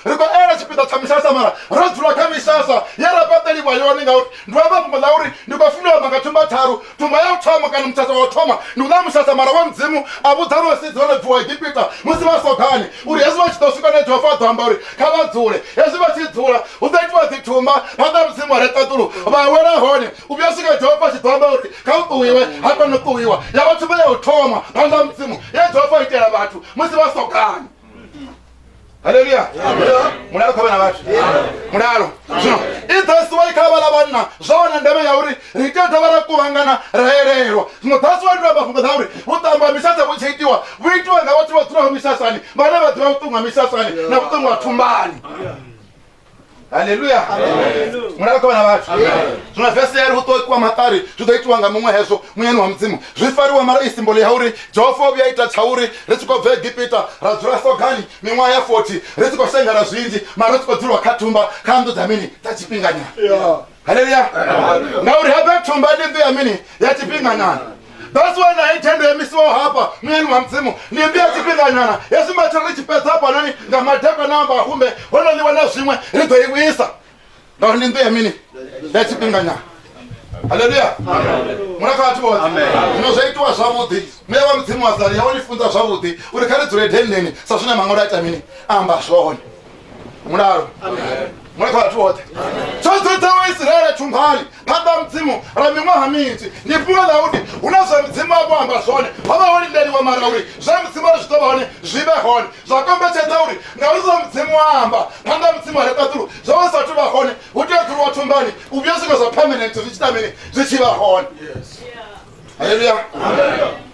ri khou ela tshipiḓa tsha misasa mara ro dzula kha misasa ye ra fhaṱeliwa yone ngauri ndi amba fhungo ḽa uri ndi khou funa amba nga thumba tharu thumba ya u thoma kana musasa wa u thoma ndi u ḽa musasa mara wa mudzimu a vhudza na vhasedzi vha no bviwa egipita musi vha sogani uri hezwi vha tshi ḓo swika ne jehova a ḓo amba uri kha vha dzule hezwi vha tshi dzula hu ḓo itiwa dzi thumba phanḓa ha mudzimu wa re ṱaḓulu vha wela hone u vhuya swika jehova a tshi ḓo amba uri kha u ṱuwiwe ha kona u ṱuwiwa ya vha thumba ya u thoma phanḓa ha mudzimu ye jehova itela vhathu musi vha sogani haleluya mulalo kha vhana vhathu mulalo zwino i thasi wa kha vhala vhanna zwa wana ndeme ya uri ri tea dovha ra kuvhangana ra elelwa zwino thasi wa itiwa mafhungo dza uri vhuṱambo ha misasa vhu tshi itiwa vhu itiwa nga vhathu vha dzulaho misasani vhane vha ḓivha vhuṱungu ha misasani na vhuṱungu ha thumbani haleluya mulala kovhana vhathu zwino vese yari hu ṱokiwa maṱari zwi ḓo itiwa nga muṅwe hezwo munyani wa mudzimu zwi fariwa mara i simbolo ya uri jehova o vhuya ita tsha uri ri tshi khou bva egipita ra dzula sogani miṅwaha ya 40 ri tshi khou shengela zwinzhi mara ri tshi khou dzulwa kha thumba kha nnḓu dza mini dza tshifhinganyana haleluya ngauri hafha thumba ndi mbi ya mini ya tshifhinganyana that's why na hei thendo yo misiwaho hafha muyani wa mudzimu ndi mbi ya tshifhinganyana ya sumba tshiri ri tshi fhedza hafhanoni nga madekwana a mbahumbe ho no ḽiwa na zwiṅwe ri ḓo i vhuisa ngauri ndi mbi ya mini ya tshifhinganyana haleluya muna kha vhathu vhoṱhe zwino zwo itiwa zwavhuḓi muya wa mudzimu wa sali ya wo ni funza zwavhuḓi uri kha ri dzule denndeni sa zwine maṅwalo a ita mini a amba zwone mulalo mwe kha vhathu vhoṱhe tshotsotsa wa isiraele thunghani phanḓa mudzimu ra miṅwaha minzhi ni fhungo ḽa uri hu na zwa mudzimu avho amba zwone ho vha ho lindeliwa mara uri zwa mudzimu ri zwi ḓo vha hone zwi vhe hone zwa kombetshedza uri ngauri zwa mudzimu wa amba phanḓa mudzimu a reṱaṱulu zwo vha sathu vha hone hu tea u ṱhulwa thunghani u vhuya zwiṅwe zwa permanent zwi tshi tamini zwi tshi vha hone haleluya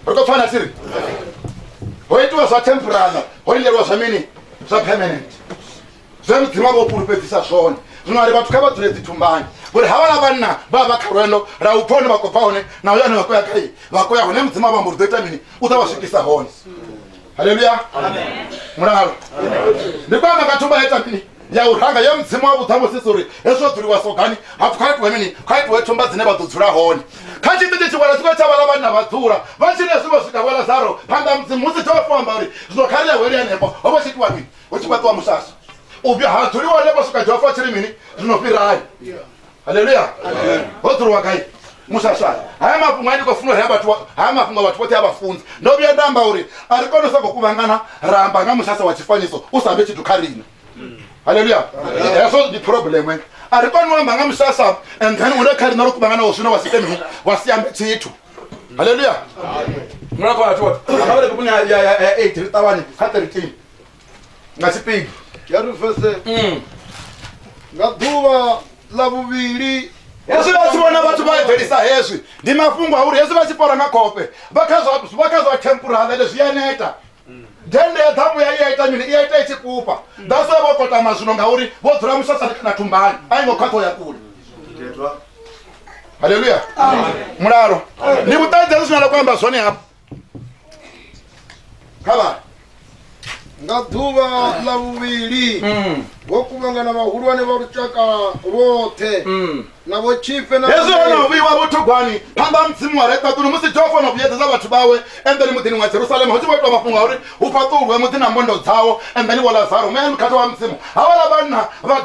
ri khou pfana tsiri ho itiwa zwa temporala ho lindeliwa zwa mini zwa permanent zwe mudzimu avha o fhulufhedzisa zwone zwino ari vhathu kha vha dzule dzithumbani ngori havhala vhanna vha vha kha lwendo ra u pfa hone vha khou bva hone na uyo ane vha khou ya khaye vha khou ya hone mudzimu avha mbo ri ḓo ita mini u ḓa vha swikisa hone haleluya mulalo ndi kwamba nga thumba ya mini ya u ranga ya mudzimu wa vhuṱhamusisi uri hezwo dzuliwa sogani hapfu kha itiwe mini kha itiwe thumba dzine vha ḓo dzula hone kha tshiṱitshi tshiwala tshikwela tsha vhala vhanna vha dzula vha tshine zwi vho swika wela zaro phanḓa mudzimu musi tsho fo amba uri zwino kha ri ya weli hanefho ho vha tshi itiwa mini hu tshi fhaṱiwa musasa u vhuya ha dzuliwa hanefho swika jehova tshi ri mini zwino fhirani haleluya ho dzuliwa gai musaswale haya mafhungo a ndi khou funa uri haya mafhungo vhathu vhoṱhe a vha funzi ndo vhuya nda amba uri a ri kone u sa khou kuvhangana ra amba nga musasa wa tshifanyiso u sa vhe tshithu kha riṋe haleluya hezwo ndi problem eh. a ri kone u amba nga musasa and then une kha riṋe ro kuvhangana wo zwino wa si kemini wa si ambe tshithu haleluya mulako vhathu vhoṱhe a vha vhale vhuponi ya eight ri ṱavhanye kha thirteen nga tshipiḓa ya ri vese mm. nga ḓuvha ḽa vhuvhili hezwi vha tshi vhona vhathu vha eḓelisa hezwi ndi mafhungo a uri hezwi vha tshi fora nga khofhe vha kha zwa tempurahavele zwi a neta dende ya ḓamu ya iya ita mini iya ita i tshi fhufha ḓaso vho kotama zwino ngauri vho dzula musasa na thumbani a i ngo khwaṱho ya kule haleluya mulalo ni vhuṱanzi hezwi zwine la ku amba zwone hafho khavha nga ḓuvha ḽa vhuvhili mm. vho kuvhangana vhahulwane vha lushaka lwoṱhe mm. na vho tshifhe hezwi ho no vhuiwa vhuthogwani phanḓa mudzimu wa reṱaṱuni musi jehova no vhuyedzedza vhathu vhawe endeni muḓini wa jerusalema hu tshi vho itwa mafhungo a uri hu fhaṱulwe muḓi na mbondo dzawo endeni vho lazaro muyani mukhathi wa mudzimu havhala vhanna vha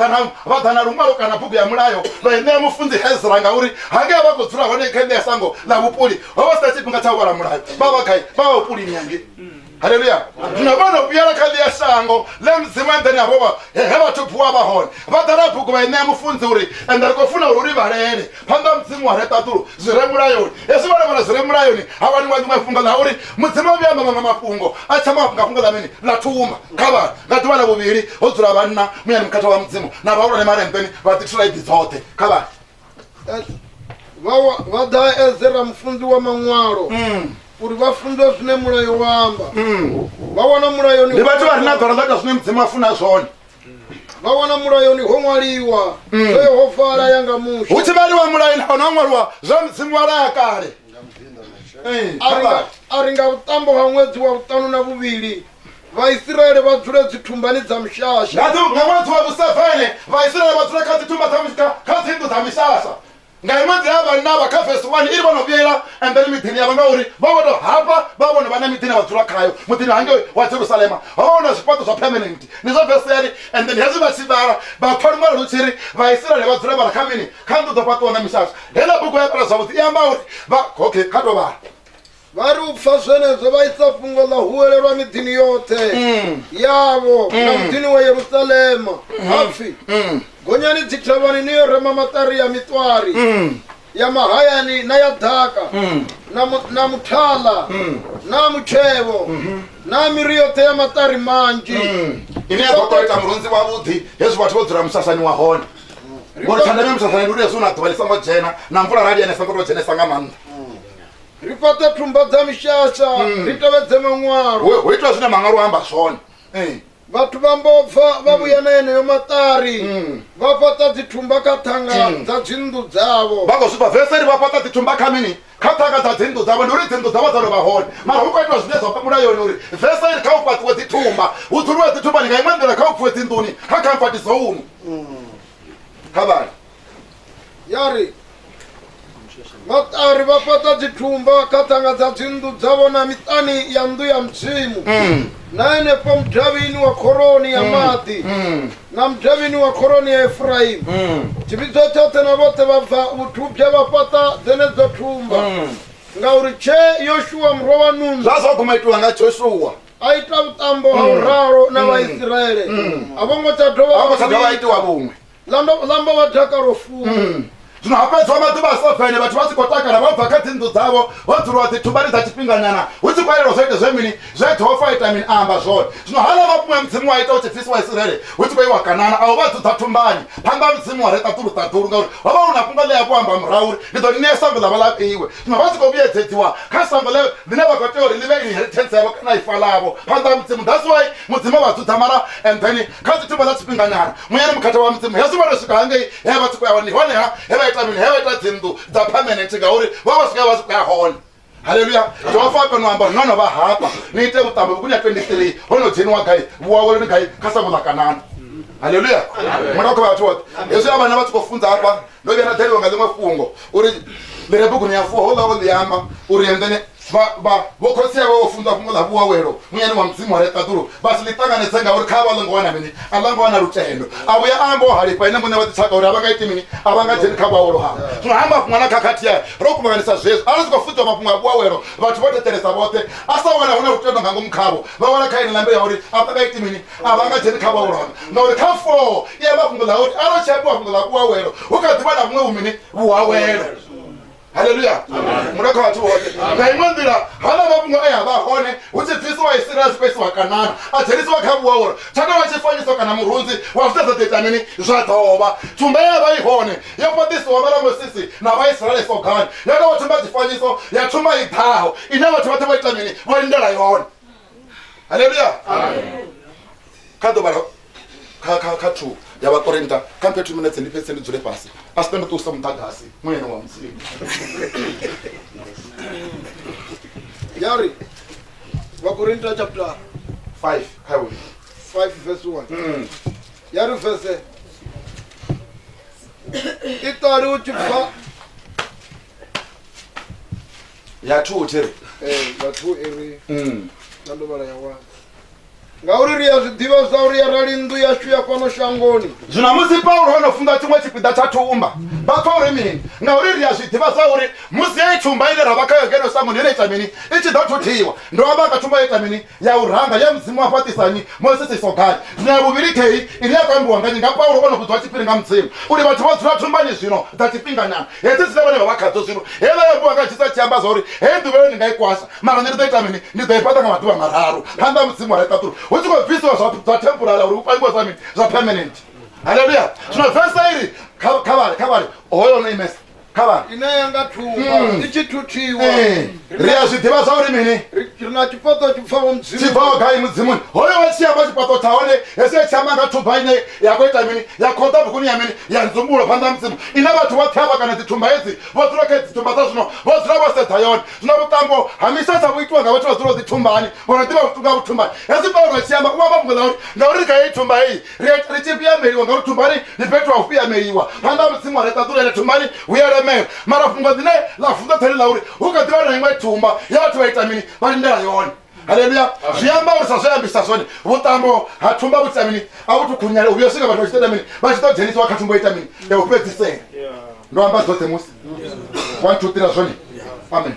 ḓa na luṅwalo kana bugu ya mulayo vha i ṋea mufunzi hezra ngauri hangea vha khou dzula hone kha ine ya sango ḽa vhupuli vha vha sina tshifhinga tsha u vhala mulayo vha vha gai vha vha vhupulini hange haleluya zwino vho no vhuyela kha ḽia shango ḽe mudzimu enḓeni havho vha he vhathu bvuwa vha hone vha ḓala bugu vha i ṋea mufunzi uri ende ri khou funa uri ri vhalele phanḓa mudzimu wa re ṱaṱulo zwi re mulayoni hezwi vhone vhala zwi re mulayoni ha wani wa ḽiṅwe fhungo ḽa uri mudzimu vhuya amba maṅwe mafhungo a tsha nga fhungo ḽa mini ḽa thuma kha vhana nga ḓuvha ḽa vhuvhili ho dzula vhanna muyani mukhetha wa mudzimu na vhahulwane malembeni vha ḓithula iḓi dzoṱhe kha vhana vha ḓa ezera mufunzi wa maṅwalo mm. uri vha funzwe zwine mulayo wa amba mm. vha wana mulayoni ndi vhathu vha re na ḓora ḽa ita zwine mudzimu a funa zwone vha wana mulayoni ho ṅwaliwa mm. zwe ho fala ya nga musho hu tshi vhaliwa mulayoni ho no ṅwaliwa zwa mudzimu wa laya kale a ri nga vhuṱambo ha ṅwedzi wa vhuṱanu na vhuvhili vhaisraele vha dzule dzithumbani dza mishasha nga dzi- nga ṅwedzi wa vhusevene vhaisraele vha dzula kha dzitumba dza mishka kha dzinḓu dza mishasha nga ṅwedzi ya vhanaba kha vesi 1 iri vho no vhuyela embere miḓini yavho ngauri vho vho to hafha vha vhono vha na miḓini vha dzula khayo muḓini hangei wa jerusalema ho vha hu na zwifhaṱo zwa permanent ndi zwa vesi yari and then hezwi vha tshi vhala vha pfa luṅwalo lu tshi ri vhaisraele vha dzula vhala kha mini kha nnḓu dzo fhaṱiwa nga mishasha heila bugu ya fhela zwavhuḓi i amba uri vha okay kha to vhala vha ri u pfa zwenezwo vha isa fhungo ḽa huwelelwa miḓini yoṱhe yavho na muḓini wa yerusalema ha pfi gonyani dzithavhani ni yo rema maṱari ya miṱwari ya mahayani na ya ḓaka na mu- na muthala na mutshevho na miri yoṱhe ya maṱari manzhi ine ya ḓo tou ita murunzi wavhuḓi hezwi vhathu vho dzula musasani wa hone ngori tshandeme musasani ndi uri hezwi hu na ḓuvha ḽi songo dzhena na mvula rali yane songo tou dzhenesa nga maanḓa ri fhaṱe thumba dza mishasha mm. ri tevhedze maṅwalo ho itwa zwine maṅwalo a amba zwone eh. vhathu vha mbobva vha vhuya na yeneyo maṱari mm. vha fhaṱa dzithumba kha ṱhanga mm. dza dzinnḓu dzavho vha khou zwifha veseri vha fhaṱa dzithumba kha mini kha ṱhanga dza dzinnḓu dzavho ndi uri dzinnḓu dzavho dza lovha hone mara hu khou itiwa zwine zwa pamula yone uri veseri kha u fhaṱiwe dzithumba hu dzuliwe dzithumba ni nga iṅwe nḓila kha u pfuwe dzinḓuni kha khamfati zoumu mm. kha vhali ya ri vhaṱari vha fhaṱa dzithumba kha ṱhanga dza dzinnḓu dzavho na miṱani ya nnḓu ya mudzimu mm. na henefho mudavhini wa khoroni ya mm. maḓi mm. na mudavhini wa khoroni ya efuraimu tshivhidzo tshoṱhe na vhoṱhe vha bva vhuthubya vha fhaṱa dzenedzo thumba ngauri tshe yoshuwa murwa wa nunu zwa sa guma itiwa nga joshuwa a ita vhuṱambo ha u ralo na vhaisiraele a vho ngo tsha dovha itiwa vhuṅwe lamba wa dakalo fu mm. zwino ha fhedziwa maḓuvha a sa fele vhathu vha tshi khou takala vha bva kha dzinnḓu dzavho vho dzuliwa dzi thubani dza tshifhinganyana hu tshi khou elelwa zwo ita zwe mini zwe jehova ita mini a amba zwone zwino hala mafhungo ya mudzimu wa ita u tshi bvisiwa isiraele hu tshi khou iwa kanana a u vha dzudza thumbani phanḓa ha mudzimu wa re ṱaḓulu ṱaḓulu ngauri ho vha hu na fhungo ḽe ya vho amba murahu uri ndi ḓo ni ṋea sango ḽa vha ḽa fhiwe zwino vha tshi khou vhuyedzedziwa kha sango ḽe ḽine vha khou tea uri ḽi vhe inheritance yavho kana ifa ḽavho phanḓa ha mudzimu that's why mudzimu vha dzudza mara and then kha dzi thoma dza tshifhinganyana munyani mukhethe wa mudzimu hezwi vha to swika hangei he vha tshi khou ya hone ndi hone ha he vha ita mini he vha ita dzinnḓu dza permanent ngauri vha vha swika he vha tshi khou ya hone haleluya jehova a kona u amba no no vha hafha ni ite vhuṱambo vhukuni ya 23 ho no dzheniwa gai vhuaweloni gai kha sango ḽa kanana haleluya murao kha vhathu vhoṱhe hezwi a vhana vha tshi khou funza hafha ndo vhuya nda dalelwa nga ḽiṅwe fhungo uri ḽire buguni ya fuwa houḽa o ḽi amba uri endene vho khotsi avho vho funza fhungo ḽa vhuawelo munyani wa mudzimu wa reṱaḓulu vha si ḽi ṱanganedze ngauri kha vha ḽo ngo wana mini a ḽa ngo wana lutendo a vhuya a amba o halifha ene muṋe wa ḓitshaka uri a vha nga iti mini a vha nga dzheni kha vhuawelo havho zwino ha mafhungo na khakhathi ya ro kuvhanganisa zwezwo a ri si khou funziwa mafhungo a vhuawelo vhathu vho thetshelesa vhoṱhe a sa wana hu na lutendo nga ngomu khavho vha wala kha ene ḽa mbilu ya uri a vha nga iti mini a vha nga dzheni kha vhahulwane ngauri kha foo i amba fhungo ḽa uri arali tshi ambiwa fhungo ḽa vhuawelo hu kha ḓivha na vhuṅwe vhumini vhuawelo haleluya muno kha vhathu vhoṱhe nga iṅwe nḓila hana mafhungo e a vha hone hu tshi bvisiwa isiraele a tshi khou isiwa kanana a dzhenisiwa kha vhuawelo tsha tovha tshifanyiso kana murunzi wa zwine zwa ḓo ita mini zwa ḓovha thumba ye ya vha i hone yo fhaṱisiwa vhala mosisi na vhaisiraele sogani ya tovha thumba tshifanyiso ya thumba i ḓaho ine vhathu vhoṱhe vho ita mini vho lindela yone haleluya kha ḓo vhala kha kha kha thu ya vha korenta kha mphe two minutes ndi fhedze ndi dzule fhasi a si pende ṱusa muḓagasi muyeno wa mudzimu ya ri vakorinta chapter five kha yo 5 verse 1 Mm. ya ri vese i ṱali u tshi bva ya two thiri eh, ya two iri mm. na ndo vhala ya one ngauri ri a zwi ḓivha zwa uri arali nnḓu yashu ya fhano shangoni zwino musi paulo o no funza tshiṅwe tshipiḓa tsha thumba vha pfa uri mini ngauri ri a zwi ḓivha zwa uri musi yeyi thumba ine ra vha khayo ngeno shangoni ine ita mini i tshi ḓo thuthiwa ndo amba kha thumba yo ita mini ya u ranga ye Mudzimu wa fhaṱisa nnyi? Mosisi Sogai. Zwino ya vhuvhili khei, ine ya khou ambiwa nga nnyi? Nga Paulo o no vhudzwa tshiphiri nga Mudzimu uri vhathu vho dzula thumbani zwino dza tshifhinganyana, hedzi dzine vhone vha vha khadzo zwino. Heiḽa yo ambiwa nga Jesu a tshi amba zwa uri, Hei nduvhelo ni nga i kwasha, mara nṋe ndi ḓo ita mini? Ndi ḓo i fhaṱa nga maḓuvha mararu phanḓa ha Mudzimu wa ra i ṱaḓulu. Hu tshi khou bvisiwa zwa zwa thempurala uri hu pangiwe zwa mini? Zwa permanent. Haleluya! Zwino vese iri kha, kha vhale, kha vhale hoyo o no imesa. kha vhana ine ya nga thumba Mm. i tshi thuthiwa Eh, ri a zwi ḓivha zwa uri mini ri ri na tshifhaṱo tshi pfaho tshi mudzimu bvaho gai mudzimuni hoyo wa tshi amba tshifhaṱo tsha hone hezwi ya tshi amba nga thumba ine ya khou ita mini ya khoḓa vhukuni ya mini ya nzumbulo phanḓa ha mudzimu ine vhathu vhoṱhe havha kana dzithumba hedzi vho dzula kha dzi thumba dza zwino vho dzula vho sedza yone zwino vhuṱambo ha misasa vhu itiwa nga vhathu vha dzula dzi thumbani vho no ḓivha vhuṱunga vhuthumbani hezwi paulo a tshi amba u amba mbuḓa uri ngauri ri kha heyi thumba heyi ri ita ri tshi fhiyameliwa ngauri thumbani ni fhethu ha u fhiyameliwa phanḓa ha mudzimu a ri ṱaḓulele thumbani hu ya lemela mara fhungo dzine ḽa funza tsali ḽa uri hu kha ḓivha na iṅwe thumba ya vhathu vha ita mini vha lindela yone haleluya zwi amba uri sa zwe ambisa zwone vhuṱambo ha thumba vhu ita mini a vhu thukhunyale u vhuya swika vhathu vha tshi ṱoḓa mini vha tshi ḓo dzhenisiwa kha thumba ita mini ya u fhedzisela ndo amba dzoṱhe musi one two three zwone amen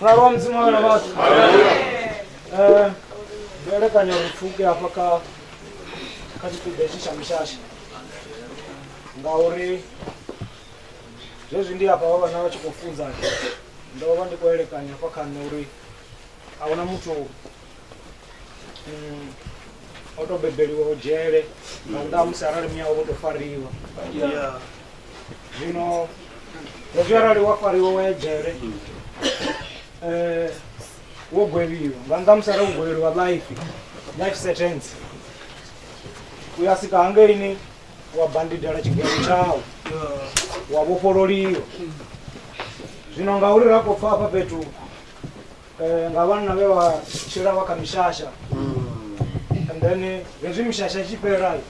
na roho mzimu awe na watu Eh, peleka nyarufuke hapa ka kachitibeshisha mishasha ngauri zwezwi ndi hapa vhavha na vha tshi khou funza ndo vha ndi khou elekanya hafha khanṋe uri a huna muthu mm, o to bebeliwaho dzhele nga nnḓa ha musi arali muya wavho to fariwa Yeah. zwino hezwi arali wa fariwa wa ya dzhele eh, wo gwevhiwa nga nnḓa ha musi arali wo gwevheliwa life life sentence u ya sika hangeini wa bandidela tshigwevho tshau Yeah. wa vhofhololiwa zwino ngauri ra khou pfa hafha fhethu eh, nga vhanna vhe vha tshila vha kha mishasha and then eh, hezwi mishasha i tshi fhela eh,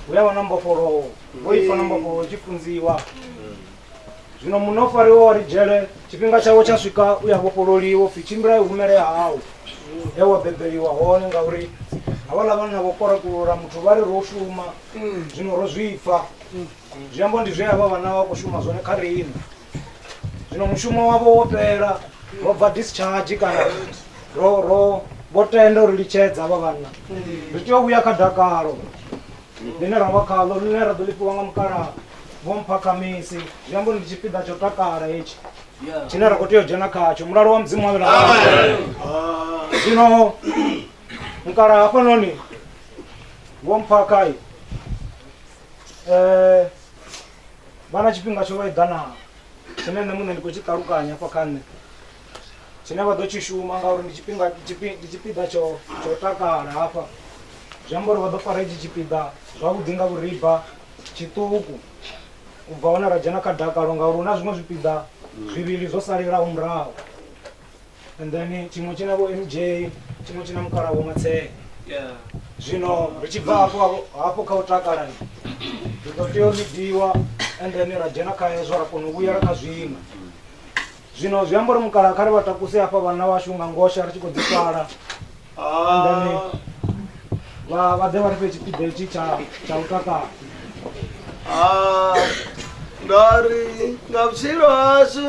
hu ya vha na mbofholowo vho ifa na mbofholowo tshi funziwa zwino munna o fariwa wa ri dzhele tshifhinga tshawe tsha swika u ya vhofhololiwa upfhi tshimbila i humele hau he wa bebeliwa hone ngauri havhaḽa vhanna vho korakulula muthu vha ri ro shuma zwino ro zwipfa zwi amba ndi zwe a vha vhana vha khou shuma zwone kha riṋe zwino mushumo wavho wo fhela ro bva discharge kana ro ro vho tenda uri litshedza havha vhanna ri tea u vhuya kha dakalo ḽine ra vha khaḽo ḽine ra ḓo lifhiwa nga mukalaha vho mpha khamisi zwi amba uri ndi tshipiḓa tsho takala hetshi tshine ra khou tea u dzhena khatsho mulalo wa mudzimu wavhela zwino mukalaha hafhanoni vho mpha kai um vha na tshifhinga tsho eḓanaho tshine nṋe muṋe ndi khou tshi ṱalukanya hafha kha nṋe tshine vha ḓo tshi shuma ngauri ndi tshifhinga ndi tshipiḓa tsho tsho takala hafha zwi amba uri vha ḓo fara itshi tshipiḓa zwavhuḓi nga vhuriba tshiṱuku u bva hone ra dzhena kha dakalo ngauri hu na zwiṅwe zwipiḓa zwivhili zwo salelaho murahu and then tshiṅwe tshi na vho mj tshiṅwe tshi na mukala vho matshele zwino ri tshi bva hafho hafho kha u takala ri ḓo tea u ḽidiwa and then ra dzhena kha hezwo ra kona u vhuyela kha zwiṅwe zwino zwi amba uri mukala kha ri vha takuse hafha vhanna vhashu nga ngosha ri tshi khou ḓifala then vha vha ḓe vha ri fhe tshipiḓa itshi tsha tsha u takala ah, nga ri nga vutshilo hashu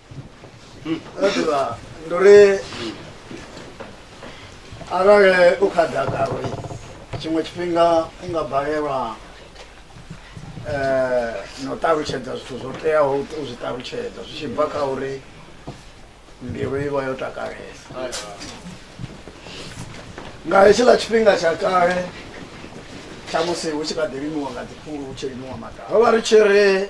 ndo ri arali u kha ḓaka uri tshiṅwe tshifhinga u nga balelwa um na u ṱalutshedza zwithu zwo teaho u zwi ṱalutshedza zwi tshi bva kha uri mbilu i vha yo takalesa nga hetshiḽa tshifhinga tsha kale tsha musi hu tshi kha ḓi limiwa nga dziphulu hu tshi limiwa maḓaka ro vha ri tshi ri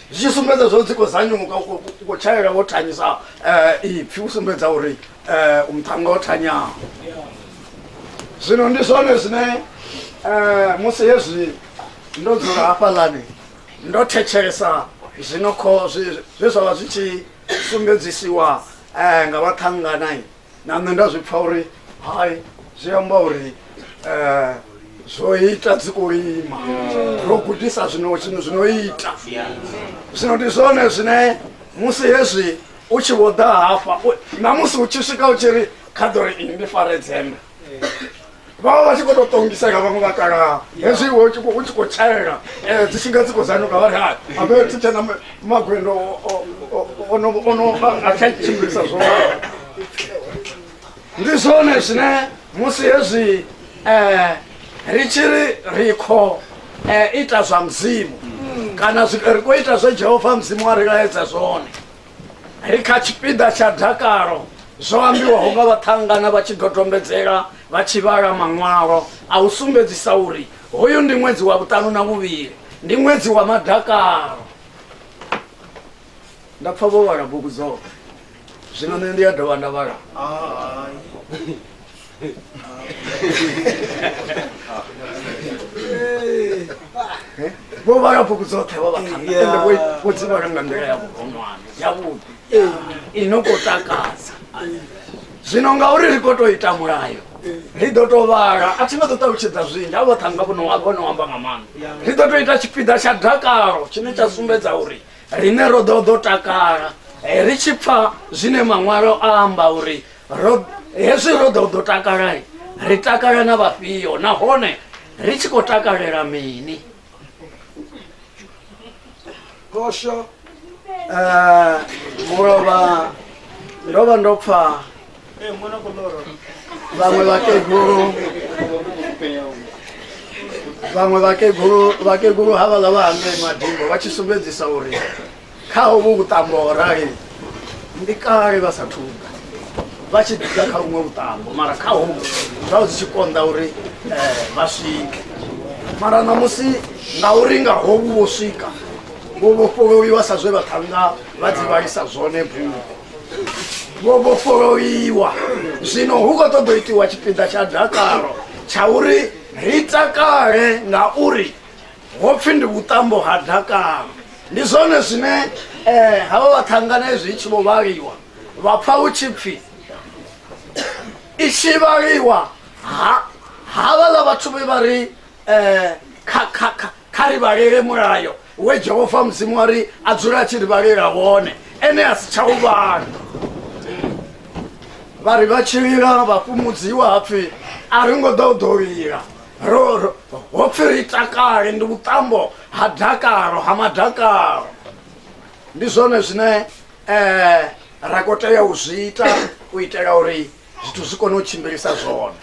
zwi tshi sumbedza zwo dzi khou zanyuka u khou tshaela wo thanyisa um ipfhi u sumbedza uri um u muṱhanga o thanyaho zwino ndi zwone zwine um musi hezwi ndo dzula hafhaḽani ndo thetshelesa zwino kho zwe zwa vha zwi tshi sumbedzisiwa um nga vhaṱhanganai na nṋe nda zwi pfa uri hai zwi amba uri um zwo ita dzi khou lima ro gudisa zwino zwino zwino ita zwino ndi zwone zwine musi hezwi u tshi vho ḓa hafha u- na musi u tshi swika u tshi ri kha ḓo ri ini ndi fare dzembe vha vha vha tshi khou tou ṱongisela vhaṅwe vha kalaha hezwi iwe u tshi khou- u tshi khou tshaela um dzi tshi nga dzi khou zanuka vha ri hai abe thi tshena ma- magwendo o- o- o- ono ono a- a tsha tshimbilisa zwo ndi zwone zwine musi hezwi um ri tshi ri ri khou um ita zwa mudzimu kana zwi- ri khou ita zwe jehova mudzimu a ri laedza zwone ri kha tshipiḓa tsha dakalo zwo ambiwaho nga vhaṱhangana vha tshi dodombedzela vha tshi vhala maṅwalo a u sumbedzisa uri hoyu ndi ṅwedzi wa vhuṱanu na vhuvhili ndi ṅwedzi wa madakalo nda pfa vho vhala bugu dzoṱhe zwino nṋe ndi ya dovha nda vhala vho vha ya bugu dzoṱhe vho vhakhana Yeah. ende vho- vho dzi vhala nga nḓila ya vhuronwane yavhuḓi i no khou takadza zwino ngauri ri khou tou ita mulayo ri ḓo tou vhala a thi nga ḓo ṱalutshedza zwinzhi a vhoṱhe anga vhono vhono amba nga maanḓa ri ḓo tou ita tshipiḓa tsha dakalo tshine tsha sumbedza uri riṋe ro ḓo ḓo takala Eh, ri tshi pfa zwine maṅwalo a amba uri hezwi ro ḓo ḓo takala ri takala na vhafhio nahone ri tshi khou takalela mini kosho eh, mulovha ndo vha ndo pfa eh, vhaṅwe vhakegulu vhaṅwe vhakegulu vhakegulu havhaḽa vha hangei madingo vha tshi sumbedzisa uri Kha hovhu vhuṱambo ho rali ndi kale vha sa thuga vha tshi ḓa kha vhuṅwe vhuṱambo mara kha hovhu zwa zwi tshi konḓa uri eh, vha swike mara ṋamusi ngauri nga hovhu vho swika vho vhofholoiwa sa zwe vhaṱhannga vha dzi vhalisa zwone bugu vho vhofholoiwa zwino hu khou ṱoḓa itiwa tshipiḓa tsha dakalo tsha uri ri takale ngauri ho pfhi ndi vhuṱambo ha dakalo ndi zwone zwine um havha vhaṱhangana hezwi i tshi vho vhaliwa vha pfha hu tshi pfhi i tshi vhaliwa havhaḽa vhathu vhe vha ri um kha ri vhalele mulayo we jehova mudzimu wa ri a dzula a tshi ri vhalela wone ene a si tsha u vhala vha ri vha tshilila vha fhumudziwa hapfhi a ri ngo ḓa u ḓo lila roro ho pfi ri takale ndi vhuṱambo ha dakalo ha madakalo ndi zwone zwine um ra kho tea u zwi ita u itela uri zwithu zwi kone u tshimbilisa zwone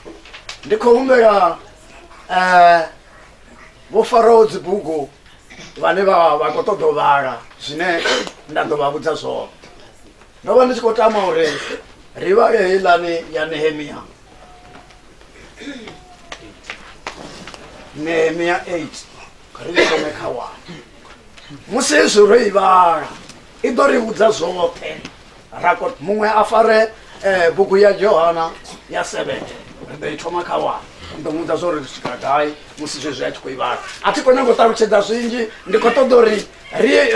ndi khou humbela um vho faraho dzibugu vhane vha vha khou ṱoḓa u vhala zwine nda ḓo vha vhudza zwone ndo vha ndi tshi khou tama uri ri vhale heiḽani ya nehemiya nehemia 8 kha ri thome kha wana musi hezwi ro i vhala i ḓo ri vhudza zwoṱhe ra ko muṅwe a fare um bugu ya johana ya seven ri ḓo i thoma kha wana ndi ḓo mudza zwo ri ri swika gai musi zwezwi a tshi khou i vhala a thi khou nyanga u ṱalutshedza zwinzhi ndi khou ṱoḓa uri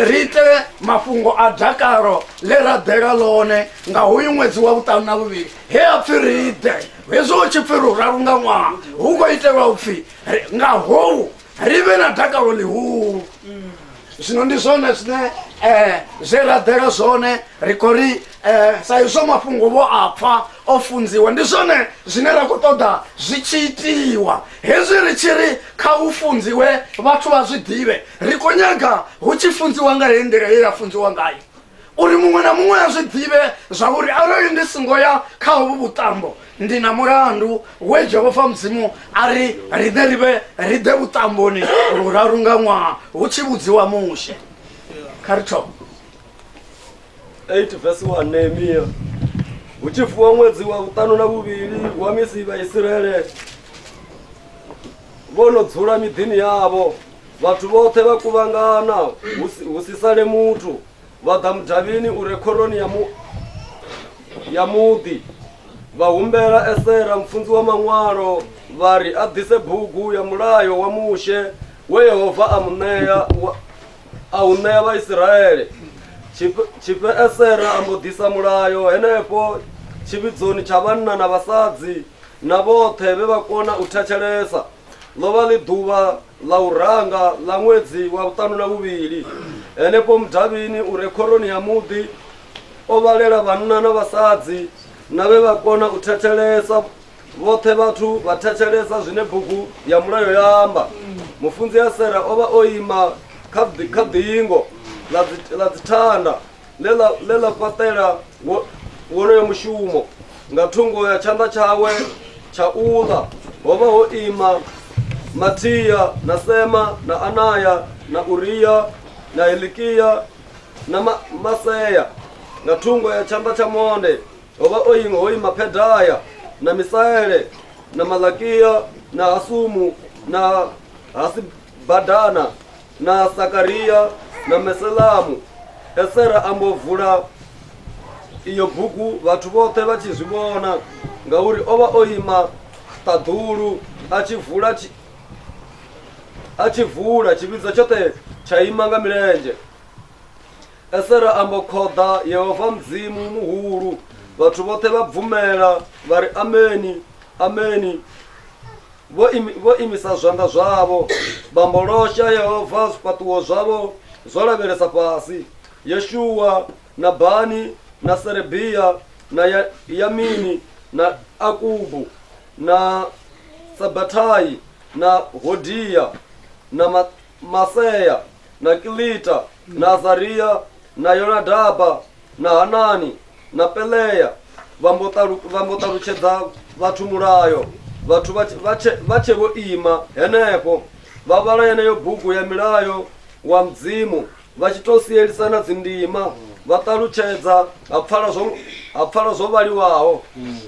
ri ite mafhungo a dakalo ḽe ra ḓela ḽone nga hoyu ṅwedzi wa vhuṱanu na vhuvhili he a pfi ri ḓe hezwo hu tshi pfi ri uraru nga ṅwaha hu khou itelwa u pfi nga hou ri vhe na dakalo ḽihulu zwino ndi zwone zwine um zwe ra ḓela zwone ri khou ri um sa izwo mafhungo vho a pfha o funziwa ndi zwone zwine ra khou ṱoḓa zwi tshi itiwa hezwi ri tshi ri kha u funziwe vhathu vha zwi ḓivhe ri khou nyaga hu tshi funziwa nga heyi nḓila ye ya funziwa ngayo uri muṅwe na muṅwe a zwi ḓivhe zwa uri arali ndi singo ya kha hovhu vhuṱambo ndi na mulandu we jehova mudzimu a ri riṋe ri vhe ri ḓe vhuṱamboni luraru nga ṅwaha hu tshi vhudziwa mushe kha ri thoma 8 vesi 1 nehemiya hu tshi fuwa ṅwedzi wa vhuṱanu na vhuvhili wa misi vhaisiraele vho no dzula miḓini yavho vhathu vhoṱhe vha kuvhangana hu si- hu si sale muthu vha ḓa mudavhini u re khoroni ya mu ya muḓi vha humbela esera mfunzi wa maṅwalo vha ri a ḓise bugu ya mulayo wa mushe we yehova a mu ṋea wa- a u ṋea vhaisiraele Tshifhe- tshifhe esera a mbo ḓisa mulayo henefho tshivhidzoni tsha vhanna na vhasadzi na vhoṱhe vhe vha kona u thetshelesa ḽo vha ḽi ḓuvha ḽa u ranga ḽa ṅwedzi wa vhuṱanu na vhuvhili henefho mudavhini u re khoroni ya muḓi o vhalela vhanna na vhasadzi na vhe vha kona u thetshelesa vhoṱhe vhathu vha thetshelesa zwine bugu ya mulayo ya amba mufunzi a sera o vha o ima kha ḓingo ḽa dzithanda ḽe ḽa fhaṱela wonoyo mushumo nga thungo ya tshanḓa tshawe tsha u ḽa ho vha ho ima Mathiya na Sema na Anaya na Uriya na Hilikiya na Masea nga thungo ya tshanḓa tsha monde ho vha o ima ho ima Phedaya na Misaele na Malakiya na Hasumu na Hasibadana Na Sakaria na Meselamu. Esera a mbo vula iyo bugu vhathu vhoṱhe vha tshi zwi vhona ngauri o vha o ima ṱaḓulu a tshi vula tshi- a tshi vula tshivhidzo tshoṱhe tsha ima nga milenzhe esera a mbo khoḓa yehova mudzimu muhulu vhathu vhoṱhe vha bvumela vha ri ameni ameni vho vho imisa zwanḓa zwavho, vha mbolosha Yehova, zwifhaṱuwo zwavho zwo lavhelesa fhasi. Yeshua na Bani na Serebia na ya, Yamini na Akubu na Sabatai na Hodia na Ma, Masea na Kilita na Azaria na Yonadaba na Hanani na Pelea vha mbo talu- vha mbo ṱalutshedza vhathu mulayo vhathu vha tshe- vha tshe vha tshe vho ima henefho vha vhala yeneyo bugu ya milayo wa mudzimu vha tshi tou sielisana dzindima vha ṱalutshedza ha pfala zwo ha pfala zwo vhaliwaho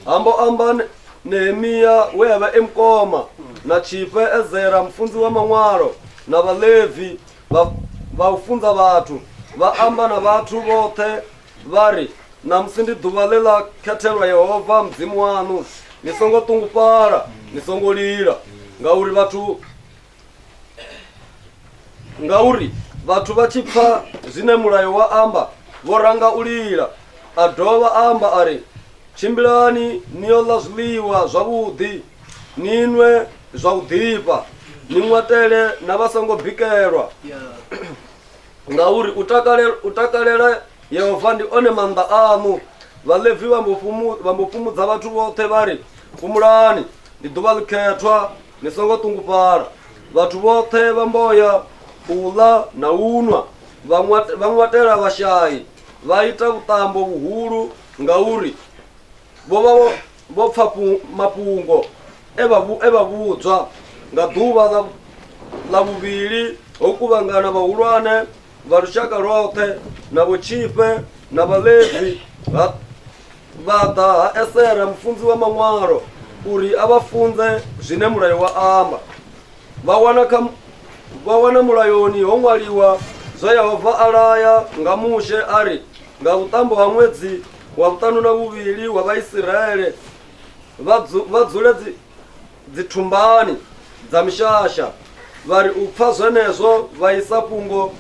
ambo amba ne- nehemiya we a vha e mukoma na tshifhe ezera mufunzi wa maṅwalo na vhalevi vha- vha u funza vhathu vha amba na vhathu vhoṱhe vha ri namusi ndi ḓuvha ḽe ḽa khethelwa yehova mudzimu waṋu ni songo ṱungufhala ni songo lila ngauri vhathu ngauri vhathu vha tshi pfa zwine mulayo wa amba vho ranga u lila a dovha a amba a ri tshimbilani ni yo ḽa zwiḽiwa zwavhuḓi ni nwe zwa u ḓifha ni ṅwatele na vha songo bikelwa ngauri u takalela, u takalela yehova ndi one maanḓa aṋu vhalevi vha mbo fumu- vha mbo fhumudza vhathu vhoṱhe vha ri fhumulani ndi ḓuvha ḽikhethwa ni songo ṱungufhala vhathu vhoṱhe vha mboya u ḽa na u nwa vha ṅwatela vhashai vha ita vhuṱambo vhuhulu ngauri vho vha vho pfa mafhungo e vha e vha vhudzwa nga ḓuvha ḽa ḽa vhuvhili ho kuvhangana vhahulwane vha lushaka lwoṱhe na vhotshifhe na vhalevi ha vha ḓa ha esera mufunzi wa maṅwalo uri a vha funze zwine mulayo wa amba vha wana kha vha wana mulayoni ho ṅwaliwa zwa yehova a laya nga mushe a ri nga vhuṱambo ha ṅwedzi wa vhuṱanu na vhuvhili wa vhaisiraele vha dzule dzithumbani dza mishasha vha ri u pfa zwenezwo vha isa fhungo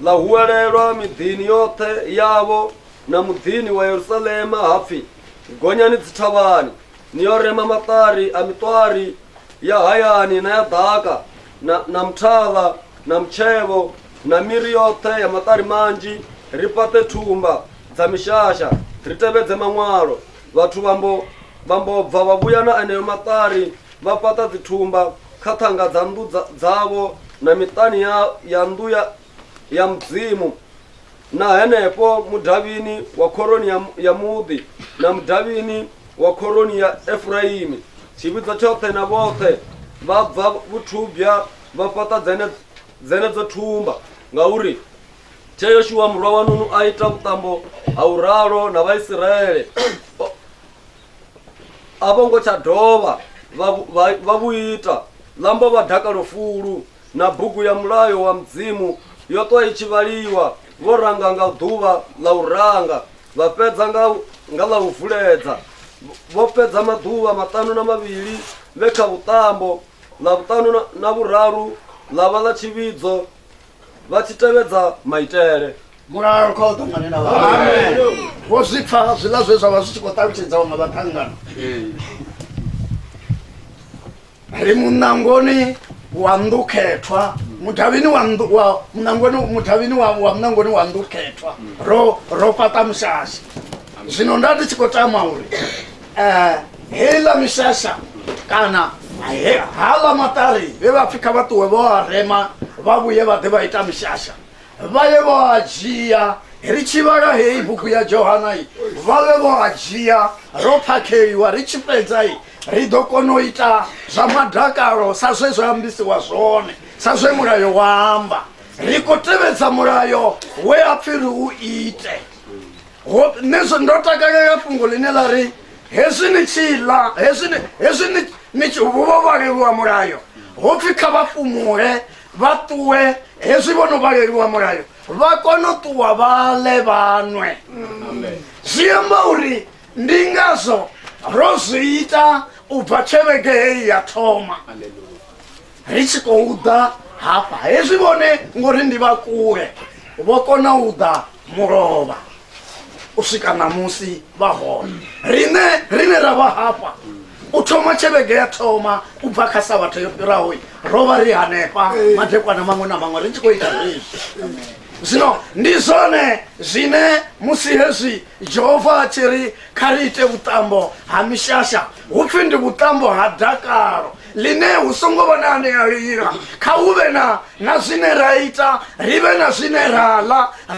ḽa huwelelwa miḓini yoṱhe yavho na muḓini wa yerusalema ha pfi gonyani dzithavhani ni yo rema maṱari a miṱwari ya hayani na ya ḓaka na, na muthavha na mutshevho na miri yoṱhe ya maṱari manzhi ri fhaṱe thumba dza mishasha ri tevhedze maṅwalo vhathu vhambo vhambo bva vha vhuya na eneo maṱari vha fhaṱa dzithumba kha ṱhanga dza nnḓu dzavho na miṱani ya, ya nnḓu ya, ya mudzimu na henefho mudavhini wa khoroni ya, ya muḓi na mudavhini wa khoroni ya efuraimi tshivhidzo tshoṱhe na vhoṱhe vha bva vhuthubya vha fhaṱa dzene- dzenedzo thumba ngauri tshe yoshuwa murwa wa nunu a ita vhuṱambo ha u ralo na vhaisiraele O- a vho ngo tsha dovha vha vhu- vha- vha vhu ita lambo vha dakalo fulu na bugu ya mulayo wa Mudzimu yo ṱwa i tshi vhaliwa vho ranga nga ḓuvha ḽa u ranga vha fhedza nga nga ḽa u vuledza vho fhedza maḓuvha maṱanu na mavhili vhe kha vhuṱambo ḽa vhuṱanu na- na vhuraru ḽa vha ḽa tshivhidzo vha tshi tevhedza maitele mulalo kha u ṱangane na vhathu vho zwi pfa zwiḽa zwe zwa vha zwi tshi khou ṱalutshedzaho nga vhaṱangana ri munangoni wa ndukhethwa mudavhini wa ndu- wa munangoni mudavhini wa wa munangoni wa ndukhethwa ro ro fhaṱa mushasha zwino nda ndi tshi khou tama uri eh heiḽa mishasha kana he- haḽa maṱari vhe vha pfhi kha vha ṱuwe vho a rema vha vhuye vha ḓe vha ita mishasha vha ye vho a dzhia ri tshi vhala heyi bugu ya johana i vha vhe vho a dzhia ro phakheliwa ri tshi fhedza i ri ḓo kona u ita zwa madakalo sa zwe zwa ambisiwa zwone sa zwe mulayo wa amba ri khou tevhedza mulayo we a pfhi ri u ite nezwo ndo takalela fhungo ḽine ḽa ri hezwi ni tshi ḽa hezwi ni tshi vho vhaleliwa mulayo ho pfhi kha vha fhumule vha ṱuwe hezwi vho no vhaleliwa mulayo vha kone u ṱuwa vha ḽe vhanwe zwi amba uri ndi ngazwo ro zwi ita u bva tshelege heyi ya thoma ri tshi khou ḓa hafha hezwi vhone ngori ndi vha kule vho kona u ḓa mulovha u swika ṋamusi vha hone riṋe riṋe ra vha hafha u thoma tshelege ya thoma u bva kha sa vhathu yo fhiraho ro vha ri hanefha madekwana maṅwe na maṅwe ri tshi khou ita zwezwi zwino ndi zwone zwine musi hezwi jehova a tshi ri kha ri ite vhuṱambo ha mishasha hu pfhi ndi vhuṱambo ha dakalo ḽine hu songo vha na ane a lila kha hu vhe na na zwine ra ita ri vhe na zwine ra ḽa